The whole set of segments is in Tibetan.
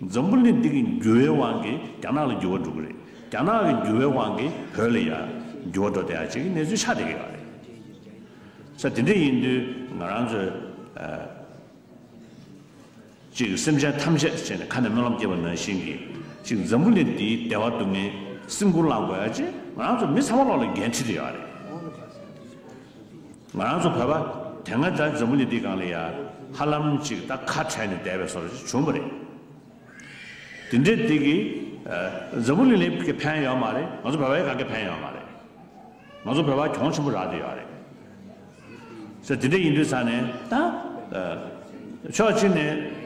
འཛམ་བུ་གླིང་འདི་གི་འགྱུར་བའི་དབང་གིས་རྒྱ་ནག་ལ་འགྱུར་བ་འགྲོ་གི་རེད། རྒྱ་ནག་གི་འགྱུར་བའི་དབང་གིས་བོད་ལ་ཡང་འགྱུར་བ་འགྲོ་བསྡད་ཡ་བྱེད་ཀྱི་གནས་ཚུལ་ཆགས་བསྡད་ཀྱི་ཡོད་རེད། ས་དེ་འདྲ་ཡིན་དུས་ང་རང་ཚོས་གཅིག་གི་སེམས་ཅན་ཐམས་ཅད་བྱས་ནས་ཁ་ནས་སྨོན་ལམ་སྐྱེས་པ་ནང་བཞིན་གྱི་གཅིག་འཛམ་བུ་གླིང་འདིའི་བདེ་བ་སྡུག་བསྔལ་སེམས་ཁུར་བླང་དགོས་ཡ་བྱེད་ང་རང་ཚོ་མི་ཚང་མ་ལོག་ལ་འགན་འཁྲི་དེ་ཡོད་རེད། ང་རང་ཚོ་བོད་པ་དེ་སྔ་ལྟར་འཛམ་བུ་ལི་འདི་གང་ལ་ཡ་ཧ་ལམ་ཅིག་ད་ཁ་བྲལ་ནས་བསྡད་པའི་སོར་ཞིག་བྱུང་བ་རེད། དེ་འདྲའི་དུས་ཀྱི་འཛམ་བུ་ལི་ལས་ཀྱི་ཕན་ཡོད་མ་རེད་ང་ཚོ་བོད་པ་ཡི་ག་གི་ཕན་ཡོད་མ་རེད། ང་ཚོ་བོད་པ་གྱོང་ཆེན་པོ་རག་ཏུ་ཡོད་རེད། ས་དེ་འདྲ་ཡིན་དུས་ས་ནས་ད་ཕྱོགས་གཅིག་ནས་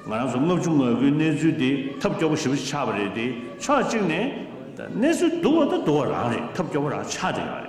ང་རང་ཚོ་ལྔ་བཅུ་ང་དགུའི་གནས་ཚུལ་དེ་ཐབས་སྐྱོ་པོ་ཞིབ་པོ་ཞིག་ཆགས་པ་རེད་དེ་ཕྱོགས་གཅིག་ནས་ད་གནས་ཚུལ་སྡུག་བ་དང་སྡུག་བ་རང་རེད་ཐབས་སྐྱོ་པོ་རང་ཆགས་ཏུ་ཡོད་རེད།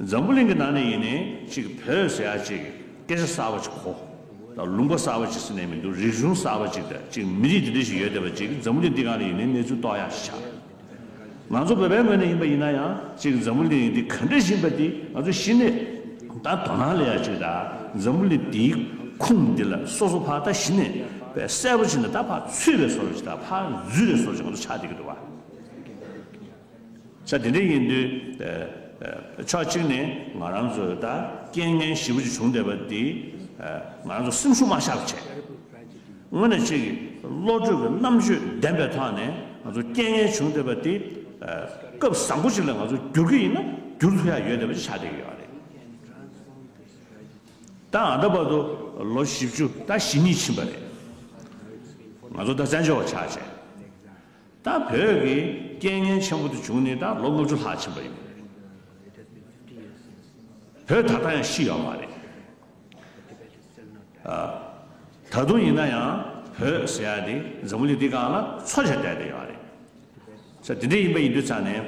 འཛམ་བུ་གླིང་གི་ནང་ནས་ཡིན་ནའི་ཅིག་བོད་ཟེར་ཡ་ཅིག་སྐད་ཆ་གསར་བ་ཅིག་གོ། ད་ལུང་པ་གསར་བ་ཅིག་ཟེར་ནས་མི་འདུག་རིག་གཞུང་གསར་བ་ཅིག་དང་ཅིག་མི་རིགས་འདི་འདྲ་ཞིག་ཡོད་བསྡད་པ་ཅིག་འཛམ་བུ་གླིང་འདི་གང་ནས་ཡིན་ནའི་གནས་ཚུལ་རྟོགས་ཡ་ཞིག་ཆགས་ཡོད། ང་ཚོ་བོད་པའི་ངོས་ནས་ཡིན་པ་ཡིན་ན་ཡང་ཅིག་འཛམ་བུ་གླིང་འདི་ག་འདྲ་ཞིག་ཡིན་པ་འདི་ང་ཚོ་ཤི་ནས་ད་དོ་སྣང་ལེན་ཡ་ཅིག་ད་འཛམ་བུ་གླིང་འདིའི་ཁུངས་འདི་ལ་སོ་སོ་ཕག་ད་ཤི་ནས་བས་གསལ་བོ་ཅིག་ནས་ད་ཕག་ཚུད་བས་སོ་ར་ཅིག་ད་ཕག་རྫུས་བས་སོ་ར་ཅིག་ང་ཚོ་ཆགས་བསྡད་ཀྱི་འདུག་བ། ཆ་དེ་འདྲ་ཡིན་དུས། ཕྱོགས་གཅིག་ནས་ང་རང་ཚོས་ད་རྐྱེན་ངན་བཞི་བོ་ཅིག་བྱུང་བསྡད་པ་འདིས། ང་རང་ཚོ་སེམས་ཤུགས་མ་ཤར་བ་བྱས། དངོས་གནས་ཅིག་བློ་གྲོས་ཀྱི་རྣམ་དཔྱོད་ལྡན་པའི་ཐོག་ནས་ང་ཚོ་རྐྱེན་ངན་བྱུང་བསྡད་པ་འདི། སྐབས་བཟང་པོ་ཅིག་ལ་ང་ཚོ་བསྒྱུར་གྱི་ཡིན་ན་བསྒྱུར་ཐུབ་ཡ་ཡོད་བསྡད་པ་ཅིག་ཆགས་བསྡད་ཀྱི་ཡོད་རེད། ད་ང་ད་བར་དུ་ལོ་བཞི་བཅུ་ད་བཞི་གཉིས་ཕྱིན་པ་རེད། ང་ཚོ་ད་བཙན་བྱོལ་བ་ཆགས་རྗེས། ད་བོད་ཀྱི་རྐྱེན་ངན་ཆེན་པོ་དེ་བྱུང་ནས་ད་ལོ་ལྔ་བཅུ་ལྷག་ཕྱིན་པ་ཡིན། བོད་ད་ལྟ་ཡང་ཤི་ཡོད་མ་རེད། ད་དུང་ཡིན་ན་ཡང་བོད་ཟེར་ཡ་དེ་འཛམ་བུ་གླིང་འདི་གང་ལ་འཚོ་བྱ་བསྡད་དེ་ཡོད་རེད། ས་དེ་འདྲ་ཡིན་པ་ཡིན་དུས་ཙང་ནས་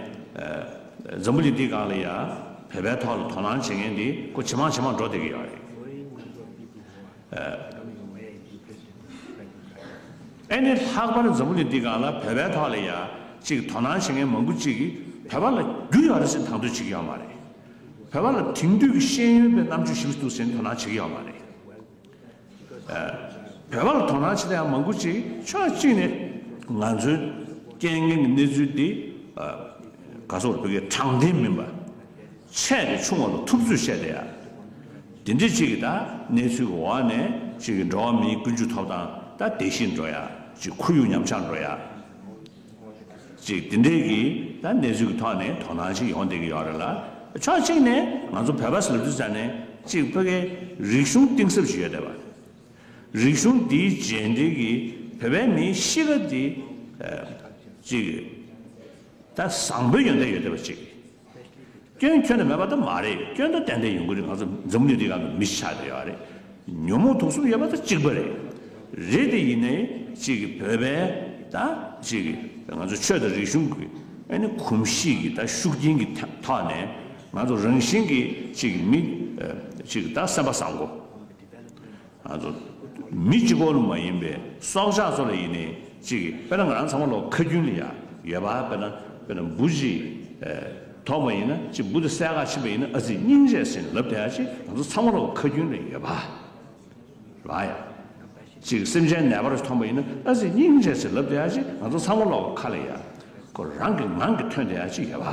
འཛམ་བུ་གླིང་འདི་གང་ལ་ཡང་བོད་པའི་ཐོག་ལ་དོ་སྣང་བྱེད་མཁན་དེ་ཁོ་ཇེ་མང་ཇེ་མང་འགྲོ་བསྡད་ཀྱི་ཡོད་རེད། ཨེ་ནི་ལྷག་པར་འཛམ་བུ་གླིང་འདི་ག་ལ་བོད་པའི་ཐོག་ལ་ཡ་གཅིག་དོ་སྣང་བྱེད་མཁན་མང་པོ་གཅིག་གིས་བོད་པ་ལ་རྒྱུ་ཡོད་རེད་ཟེར་དང་དོད་བྱེད་ཀྱི་ཡོད་མ་རེད། བོད་པ་ལ་དེང་དུས་ཀྱི་ཤེས་ཡོན་པའི་རྣམ་དཔྱོད་ཞིབ་ཏུ་ཟིན་དོ་སྣང་བྱེད་ཀྱི་ཡོད་མ་རེད། བོད་པ་ལ་དོ་སྣང་བྱེད་ད་ཡང་མང་པོ་གཅིག་ཕྱོགས་གཅིག་ནས་ང་ཚོའི་རྐྱེན་ངན་གྱི་གནས་ཚུལ་འདི་ག་སོག་པོ་བོད་པའི་དྲང་བདེན་མིན་པ། ཆད་དེ་ཆུང་བ་ལ་ཐུབ་ཚོད་བཤད་དེ་ཡ། དེ་འདྲས་གཅིག་གི་ད་གནས་ཚུལ་གི་འོག་ནས་གཅིག་གི་འགྲོ་བ་མིའི་ཀུན་སྤྱོད་ཐོབ་ཐང་ད་དེ་བཞིན་འགྲོ་ཡ་གཅིག་ཁོར་ཡུག་ཉམས་ཆག་འགྲོ་ཡ་གཅིག་དེ་འདྲས་གི་ད་གནས་ཚུལ་གི་ཐོག་ནས་དོ་སྣང་གཅིག་ཡོང་བསྡད་གི་ཡོག་རེད་ལ་ཕྱོགས་གཅིག་ནས་ང་ཚོ་བོད་པ་ཟེར་དུས་ས་ནས་གཅིག་བོད་ཁའི་རིག་གཞུང་གཏིང་ཟབ་ཞིག་ཡོད་བསྡད་པ། རིག་གཞུང་དེའི་རྗེས་འབྲེལ་གི་བོད་པའི་མིའི་གཤིས་ཀ་དེ་གཅིག་ད་བཟང་བོ་ཡོད་བསྡད་ཡོད་བསྡད་པ་གཅིག། སྐྱོན་ཁྱོད་ལ་མེད་པ་དང་མ་རེད་སྐྱོན་དང་ཏན་ཏན་ཡོང་གི་རེད་ང་ཚོ་འཛམ་གླིང་འདི་ག་ནང་མི་ཆགས་ཡོད་རེད་ཉོན་མོངས་དུག་གསུམ་ཡོད་པ་དང་གཅིག་པ་རེད་རེད་དེ་ཡིན་ནའི་གཅིག་གི་བོད་པའི་ད་གཅིག་གི་ང་ཚོ་ཆོས་དང་རིག་གཞུང་གི་ཨ་ནི་གོམས་གཤིས་ཀྱི་ད་ཤུགས་རྐྱེན་གྱི་ཐོག་ནས་ང་ཚོ་རང་བཞིན་གྱི་གཅིག་གི་མི་གཅིག་གི་ད་སེམས་པ་བཟང་པོ། མི་སྤྱི་ཁོག་ནུབ་མ་ཡིན་པའི་སྲོག་ཆགས་ཚོ་ལ་ཡིན་ནི་གཅིག་གི་དཔེར་ན་ང་རང་ཚང་མ་ལོག་ཁ་རྒྱུན་ལ་ཡ་ཡོད་པ་དཔེར་ན་དཔེར་ན་འབུ་ཅིག་ཐོག་མ་ཡིན་ན་གཅིག་འབུ་དེ་གསལ་ཁ་ཕྱིན་པ་ཡིན་ན་ཨ་ཙི་སྙིང་རྗེ་ཟིན་ལབ་དེ་ཡ་གཅིག་ང་ཚོ་ཚང་མ་ལོག་ཁ་རྒྱུན་ལ་ཡོད་པ་རེད་བ་ཡ། གཅིག་སེམས་ཅན་ནད་པར་ཐོངས་པ་ཡིན་ན་ཨ་ཙི་སྙིང་རྗེ་ཟིན་ལབ་དེ་ཡ་གཅིག་ང་ཚོ་ཚང་མ་ལོག་ཁ་ལ་ཡ། ཁོ་རང་གི་ངང་གིས་ཐོན་དེ་ཡ་གཅིག་ཡོད་པ།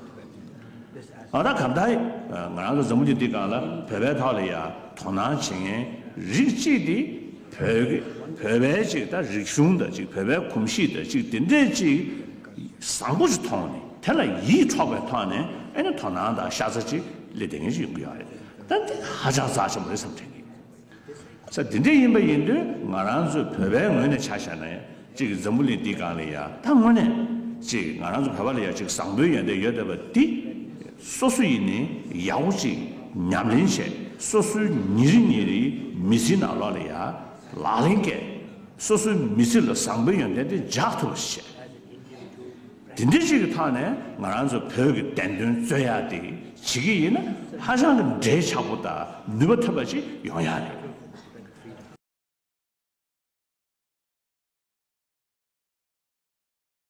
ཨ་ད་གམ་ཐག་ཡིན། ང་རང་གི་མཛའ་མོ་རྒྱུད་འདི་གང་ལ་བོད་པའི་ཐག་ལ་ཡ་དོ་སྣང་བྱེད་མཁན་རིགས་གཅིག་དེ་བོད་བོད་པའི་ཅིག་ད་རིག་གཞུང་ད་ཅིག་བོད་པའི་གོམས་གཤིས་ད་ཅིག་དེ་འདྲས་ཅིག་བཟང་པོ་ཅིག་མཐོང་ནས་དེ་ལ་ཡིད་འཕྲོག་པའི་ཐོག་ནས་ཨེ་ནི་དོ་སྣང་དང་ཤ་ཚ་ཅིག་ལས་དེ་ངེས་ཅིག་ཡོང་གི་ཡོད་རེད་ད་འདི་ཧ་ཅང་རྩ་ཆེན་པོ་རེད་བསམ་དྲན་གི། ས་དེ་འདྲ་ཡིན་པ་ཡིན་དུས་ང་རང་ཚོ་བོད་པའི་ངོས་ནས་ཆ་བཞག་ན་གཅིག་འཛམ་བུ་གླིང་འདི་གང་ལས་ཡག་ད་དངོས་གནས་གཅིག་ང་རང་ཚོ་བོད་པ་ལ་ཡང་གཅིག་བཟང་པོའི་ཡོན་ཏན་ཡོད་བསྡད་པ་འདི་སོ་སོ་ཡིན་ནས་ཡག་པོ་གཅིག་ཉམས་ལེན་བྱས་སོ་སོའི་ཉིན་རེ་ཉིན་རེའི་མི་ཚེའི་ནང་ལོག་ལ་ཡག་ལག་ལེན་བཀལ་སོ་སོའི་མི་ཚེ་ལ་བཟང་པོའི་ཡོན་ཏན་དེ་འཇགས་ཐུབ་པ་བྱས། དེ་འདྲི་བྱེད་ཀྱི་ཐག་ནས་ང་རང་ཚོ་བོད་ཀྱི་བདེན་དོན་རྩོད་ཡག་དེ་བྱེད་ཀྱི་ཡིན་ན་ཧ་ཅང་གི་འབྲེལ་ཆགས་པོ་དང་ནུས་པ་ཐོན་པ་ཅིག་ཡོང་ཡག་རེད།